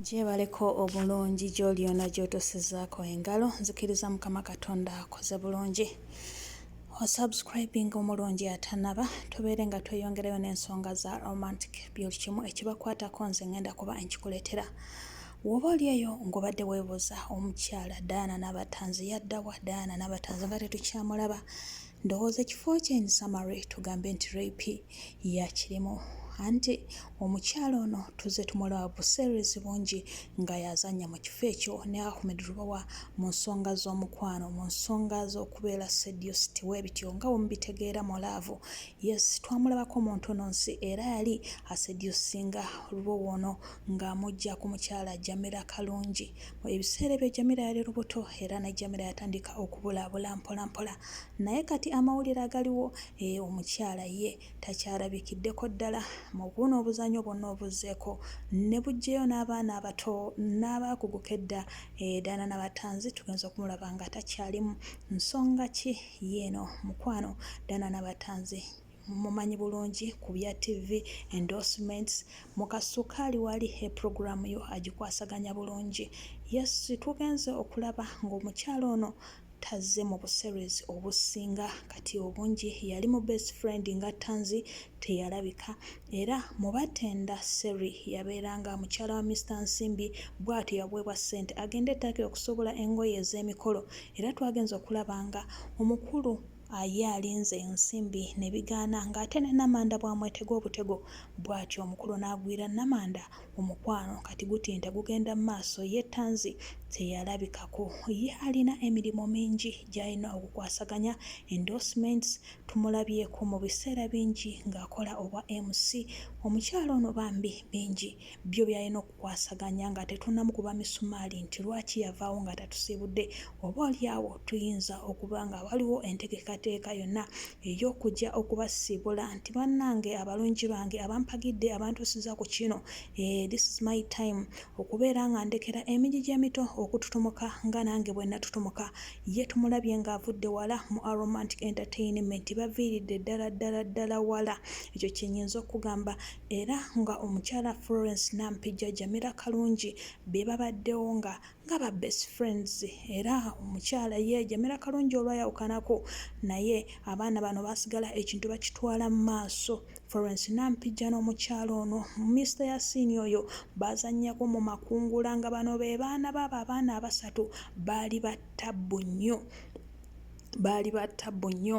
Gyebaleko obulungi gyoli yona gyotusizaako engalo nzikiriza mukama katonda akoze bulungi osubscribing omulungi atanaba tubeere nga tweyongerayo n'ensonga za romantic byoli kimu ekibakwatako nze ngenda kuba enkikuletera woba oli eyo ngobadde webuuza omukyala daana nabatanzi yaddawa daana nabatanzi nga tetukyamulaba ndowooza ekifo kye in summary tugambe nti rape yakirimu anti omukyala ono tuzze tumulaba buseerezi bungi nga yazannya mu kifo ekyo ne Ahmed Lubowa mu nsonga z'omukwano mu nsonga z'okubeera seduced bwe bityo nga bwe mubitegeera mu laavu yes twamulabako mu ntono nsi era yali aseducinga Lubowa ono ng'amujja ku mukyala Jamila Kalungi mu ebiseera ebyo Jamila yali lubuto era ne Jamila yatandika okubulaabula mpolampola naye kati amawulire agaliwo Eeh omukyala ye takyalabikiddeko ddala mu buno obuzanyo bwonna obuzzeeko ne buggyeyo n'abaana abato n'abaakugu k'edda eh, Diana Nabatanzi tugenze okumulaba nga takyalimu nsonga ki yiino mukwano Diana Nabatanzi mumanyi bulungi ku bya TV endorsements mu kasukaali wali e program yo agikwasaganya bulungi yes tugenze okulaba ng'omukyala ono tazze mu buserwezi obusinga kati obungi yali mu best friend nga Tanzi teyalabika era mu batenda Seri yabeeranga mukyala wa Mister Nsimbi bwatyo yaweebwa ssente agende e Turkey okusobola engoye ez'emikolo era twagenze okulaba nga omukulu ye alinze ensimbi ne bigaana ng'ate ne Namanda bw'amwetega obutego bwatyo omukulu n'agwira Namanda Omukwano kati gutinta gugenda mu maaso ye Tanzi teyalabikako. Ye alina emirimu mingi gy'alina okukwasaganya, endorsements, tumulabyeko mu biseera bingi ng'akola obwa MC. Omukyala ono bambi bingi byo by'alina okukwasaganya nga tetunnamukuba misumaali nti lwaki yavaawo nga tatusiibudde. Oboolyawo tuyinza okuba nga waliwo entegeekateeka yonna ey'okujja okubasiibula nti bannange abalungi bange abampagidde abantuusiza ku kino eeh this is my time okubeera nga ndekera emigigi emito okututumuka nga nange bwe natutumuka ye tumulabye nga avudde wala mu Aromantic Entertainment baviiridde ddala ddala ddala wala ekyo kye nyinza okugamba era nga omukyala Florence Nampijja Jamila Kalungi be babaddewo nga nga ba best friends era omukyala ye Jamila Kalungi olwayawukanako naye abaana bano baasigala ekintu bakitwala mu maaso. Florence Nampijja n'omukyala ono Mister Yasin oyo baazannyako mu makungula nga bano be baana baabo abaana abasatu baali ba ttabbu nnyo baali ba ttabbu nnyo.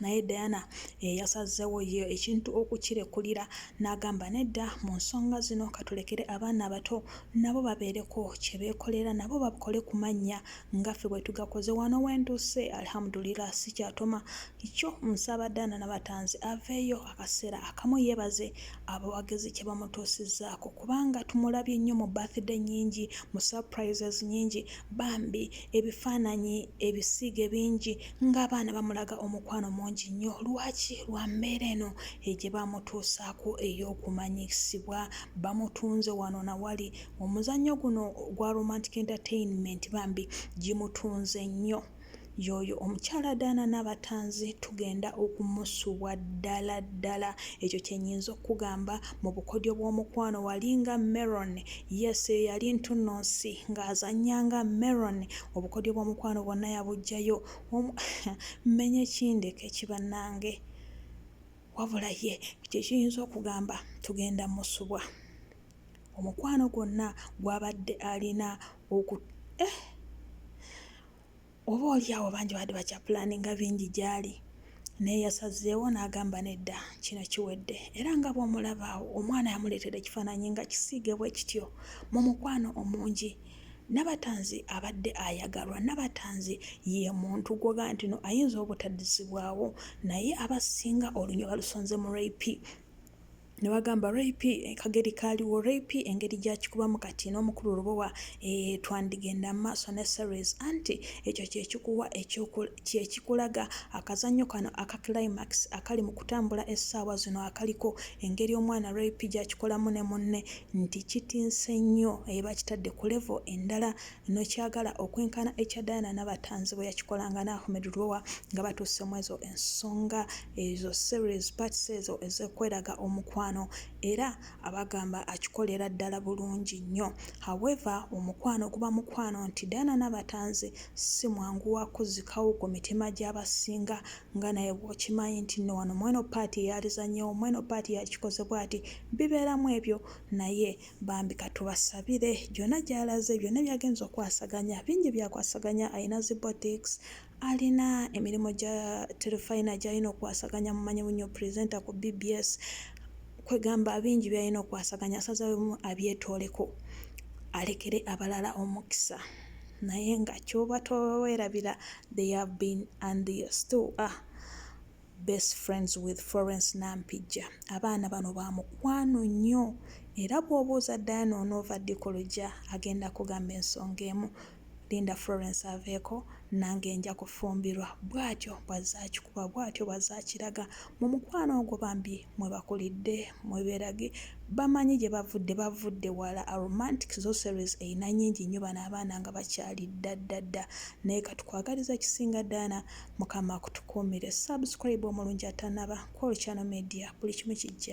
naye Diana yeyasazzewo ye ekintu okukirekulira n'agamba nedda mu nsonga zino katulekere abaana abato nabo babeereko kye beekolera nabo bakole ku mannya nga ffe bwe tugakoze wano wentuuse alhamdulillah sikyatoma kyo nsaba Diana Nabatanzi aveeyo akaseera akamu yeebaze abawagizi kye bamutuusizzaako kubanga tumulabye nnyo mu birthday nnyingi mu surprises nnyingi bambi ebifaananyi ebisiige bingi ng'abaana bamulaga omukwano mungi nnyo lwaki lwa mbeera eno egye bamutuusaako ey'okumanyisibwa bamutunze wano na wali omuzannyo guno gwa romantic entertainment bambi gimutunze nnyo yoyo omukyala daana n'abatanzi tugenda okumusubwa ddala ddala ekyo kyenyinza okukugamba mu bukodyo bw'omukwano walinga meron yes yali ntunnonsi ng'azannya nga meron obukodyo bw'omukwano bwonna yabuggyayo omu mmenye kindeke ki bannange wabula ye kye kiyinza okugamba tugenda musubwa omukwano gwonna gwabadde alina oku eh! oba oli awo bangi baadde bakyapulaani nga bingi gy'ali naye yasazeewo n'agamba nedda kino kiwedde era nga bw'omulaba awo omwana yamuleetera ekifaananyi nga kisiige bwe kityo mu mukwano omungi Nabatanzi abadde ayagalwa. Nabatanzi ye muntu gwoga nti no ayinza obutadizibwawo naye abasinga olunya balusonze mu rap nebagamba rap eh, kageri kaliwo rap engeri gyakikubamu kati n'omukulu lubowa e, eh, twandigenda maaso ne series anti ekyo kyekikuwa kyekikulaga akazanyo kano aka climax akali mu kutambula essaawa zino akaliko engeri omwana rap gyakikolamu ne munne nti kitinse nnyo e bakitadde ku level endala nokyagala okwenkana ekya Diana Nabatanzi bweyakikolanga ne Ahmed Lubowa nga batuuse mwezo ensonga ezo series parts ezo ezokweraga omukwano era abagamba akikolera ddala bulungi nnyo however omukwano guba mukwano nti Diana Nabatanzi simwangu wakuzikawo ku mitima gyabasinga nga naye bw'okimanyi nti nno wano mweno ppaati y'alizannyewo, mweno ppaati yakikoze bw'ati, bibeeramu ebyo naye bambi ka tubasabire gyonna gy'alaze, byonna by'agenze okwasaganya, bingi by'akwasaganya, alina zi boutiques, alina emirimu gya terefayina gy'alina okwasaganya, mumanyi nnyo presenter ku bbs, kwegamba bingi by'alina okwasaganya asazeemu abyetooleko alekere abalala omukisa. naye nga kyoba towerabira they have been and they still are best friends with Florence Nampijja abaana bano ba mukwano nnyo era bw'obuuza Diana onoova ddi ku luggya agenda kugamba ensonga emu linda Florence aveeko nange nja kufumbirwa bw'atyo bw'azze akikuba bw'atyo bw'azze akiraga mu mukwano ogwo bambi. mwe bakulidde mwe berage bamanyi gye bavudde bavudde wala a romantic sorceries eyina nyingi nnyo bano abaana nga bakyali ddaddadda naye katukwagaliza kisinga dana mukama akutukuumire subscribe omulungi atanaba kwolchano media buli kimu kijja